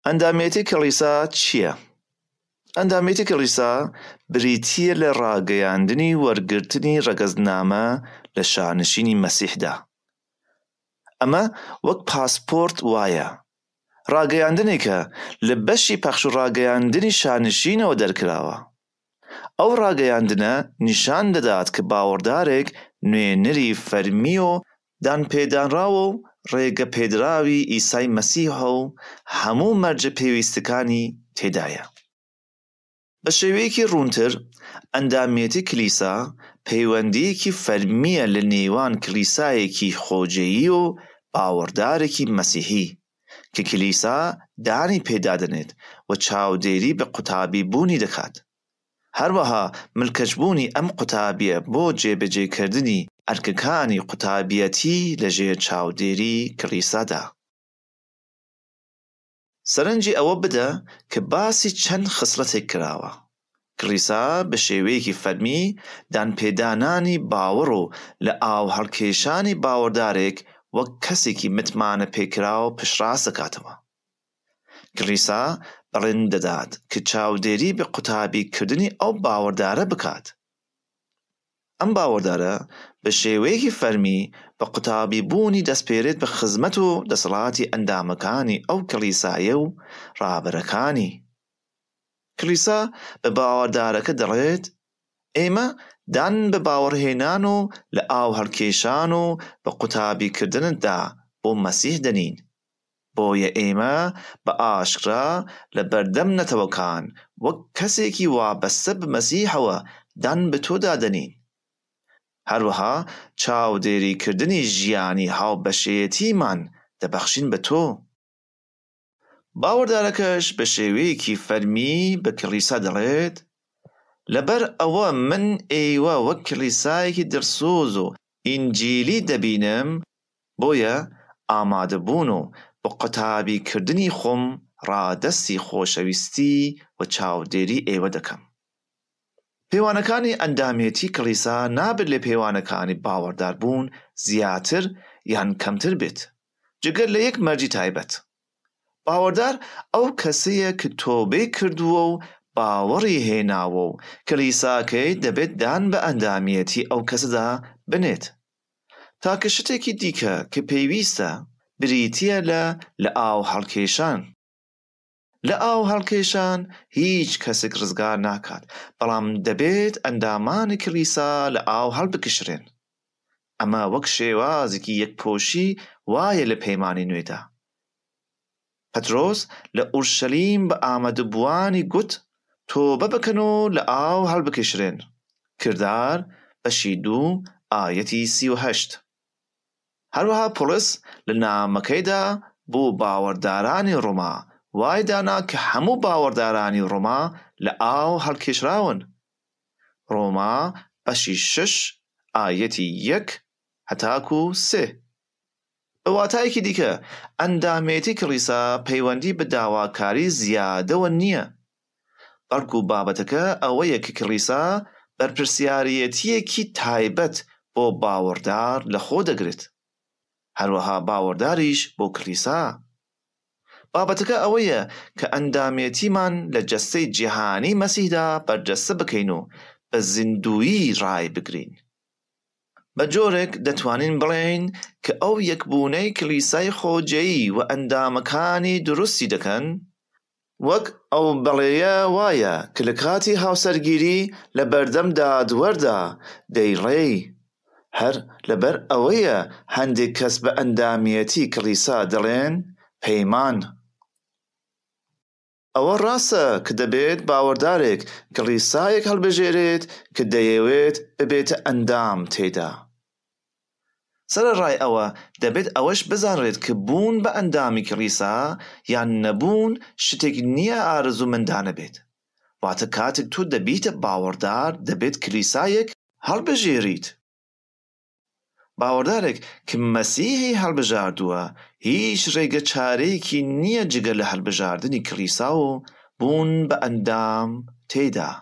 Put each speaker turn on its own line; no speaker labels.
ئەندامێتی کڵیسا چییە؟ ئەندامێتی کڵیسا بریتییە لە ڕاگەیاندنی وەرگرتنی ڕەگەزنامە لە شانشینی مەسیحدا. ئەمە وەک پاسپۆرت وایە، ڕاگەیاندنێکە لە بەشی پەخش و ڕاگەیاندنی شانشینەوە دەرکراوە. ئەو ڕاگەیاندنە نیشان دەدات کە باوەڕدارێک نوێنەری فەرمی و دانپێدانراوە و ڕێگەپێدراوی عیسای مەسیحە و هەموو مەرجە پێویستەکانی تێدایە. بە شێوەیەکی ڕوونتر، ئەندامیەتی کلیسا پەیوەندییەکی فەرمییە لە نێوان کلیسایەکی خۆجێی و باوەڕدارێکی مەسیحی، کە کلیسا دانی پێدادەنێت و چاودێری بە قوتابی بوونی دەکات. هەروەها ملکەچبوونی ئەم قوتابیە بۆ جێبەجێکردنی ئەرکەکانی قوتابیەتی لە ژێر چاودێری کلیسادا. سەرنجی ئەوە بدە کە باسی چەند خسڵەتێک کراوە کڵیسا بە شێوەیەکی فەرمی دانپێدانانی باوەڕ و لە ئاوهەڵکێشانی باوەڕدارێک وەک کەسێکی متمانەپێکراو پشتڕاست دەکاتەوە. کڵیسا بەڵێن دەدات کە چاودێری بە قوتابی کردنی ئەو باوەڕدارە بکات. ئەم باوەڕدارە بە شێوەیەکی فەرمی بە قوتابی بوونی دەسپێرێت بە خزمەت و دەسەڵاتی ئەندامەکانی ئەو کڵیسایە و ڕابەرەکانی. کڵیسا بە باوەڕدارەکە دەڵێت، ئێمە دان بە باوەڕهێنان و لە ئاوهەڵکێشان و بە قوتابیکردنتدا بۆ مەسیح دەنین، بۆیە ئێمە بە ئاشکرا لە بەردەم نەتەوەکان وەک کەسێکی وابەستە بە مەسیحەوە دان بە تۆدا دەنین. هەروەها چاودێریکردنی ژیانی هاوبەشێیەتیمان دەبەخشین بە تۆ. باوەڕدارەکەش بە شێوەیەکی فەرمی بە کڵیسا دەڵێت، لەبەر ئەوە من ئێوە وەک کڵیسایەکی دڵسۆز و ئینجیلی دەبینم، بۆیە ئامادەبوون و بە قوتابی کردنی خۆم ڕادەستی خۆشەویستی و چاودێری ئێوە دەکەم. پێوانەکانی ئەندامێتی کڵیسا نابێت لە پێوانەکانی باوەڕدار بوون زیاتر یان کەمتر بێت جگە لە یەک مەرجی تایبەت. باوەڕدار ئەو کەسەیە ک تۆبەی کردووە و باوەڕی هێناوە و کڵیساکەی دەبێت دان بە ئەندامیەتی ئەو کەسەدا بنێت. تاکە شتێکی دیکە ک پێویستە بریتیە لە لە ئاو هەڵکێشان. لە ئاو هەڵکێشان هیچ کەسک ڕزگار ناکات، بەڵام دەبێت ئەندامانی کڵیسا لە ئاو هەڵبکشرێن. ئەمە وەک شێوازێکی یەکپۆشی وایە لە پەیمانی نوێدا. پەترۆس لە ئورشەلیم بە ئامادەبووانی گوت تۆبە بکەن و لە ئاو هەڵبکشرێن، کردار بەشی دوو ئایەتی سی و هەشت. هەروەها پوڵس لە نامەکەیدا بۆ باوەڕدارانی ڕۆما وای دانا کە هەموو باوەڕدارانی ڕۆما لە ئاو هەڵکێشراون، ڕۆما بەشی شەش ئایەتی یەک هەتاکو سێ. بە واتایەکی دیکە ئەندامێتی کڵیسا پەیوەندی بە داواکاری زیادەوە نییە، بەڵکو بابەتەکە ئەوەیە کە کڵیسا بەرپرسیاریەتییەکی تایبەت بۆ باوەڕدار لە خۆ دەگرێت، هەروەها باوەڕداریش بۆ کڵیسا. بابەتەکە ئەوەیە کە ئەندامێتیمان لە جەستەی جیهانی مەسیحدا بەرجەستە بکەین و بە زیندوویی ڕایبگرین. بە جۆرێک دەتوانین بڵێین کە ئەو یەکبوونەی کڵیسای خۆجێی و ئەندامەکانی دروستی دەکەن، وەک ئەو بەڵێیە وایە کە لە کاتی هاوسەرگیری لە بەردەم دادوەردا دەیڵێی، هەر لەبەر ئەوەیە هەندێک کەس بە ئەندامیەتی کڵیسا دەڵێن پەیمان. ئەوە ڕاستە کە دەبێت باوەڕدارێک کڵیسایەک هەڵبژێرێت کە دەیەوێت ببێتە ئەندام تێیدا. سەرەڕای ئەوە، دەبێت ئەوەش بزانرێت ک بوون بە ئەندامی کڵیسا یان نەبوون شتێک نییە ئارەزوومەندانە بێت. واتە کاتێک تۆ دەبیتە باوەڕدار دەبێت کلیسایەک هەڵبژێریت. باوەڕدارێک ک مەسیحی هەڵبژاردووە هیچ رێگە چارەیەکی نییە جگە لە هەڵبژاردنی کڵیسا و بوون بە ئەندام تێدا.